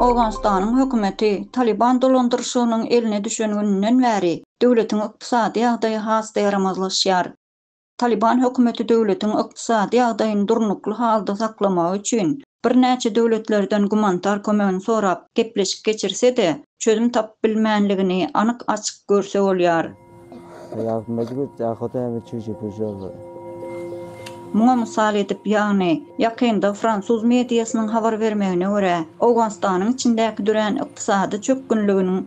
Owganystanyň hökümeti Talyban dolandyryşygynyň eline düşen gününden bäri döwletiň ykdysady ýagdaýy has-da ýaramazlaşýar. Talyban hökümeti döwletiň ykdysady ýagdaýyny durnukly halda saklamagy üçin birnäçe döwletlerden gumanitar kömegini sorap gepleşik geçirse-de, çözüm tapyp bilmänligini anyk-açyk görse bolýar. Muňa mysal edip, ýagny, ýakynda fransuz mediasynyň habar bermegine görä, Owganystanyň içindäki dörän ykdysady çökgünliginiň,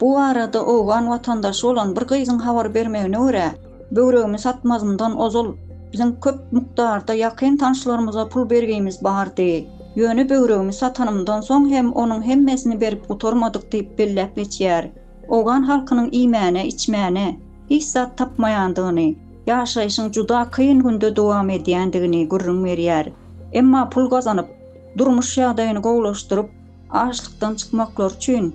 Bu barada owgan watandaşy bolan bir gyzyň habar bermegine görä, böwregimi satmazymdan ozal biziň köp mukdarda ýakyn tanyşlarymyza pul bergimiz bardy. Ýöne böwregimi satanymdan soň hem onuň hemmesini berip gutarmadyk diýip belläp geçýär. Owgan halkynyň iýmäne, içmäne hiç zat tapmaýandygyny, ýaşaýşyň juda kyn günde dowam edýändigini gürrüň berýär. Emma pul gazanyp, durmuş ýagdaýyny gowulaşdyryp, açlykdan çykmaklary üçin,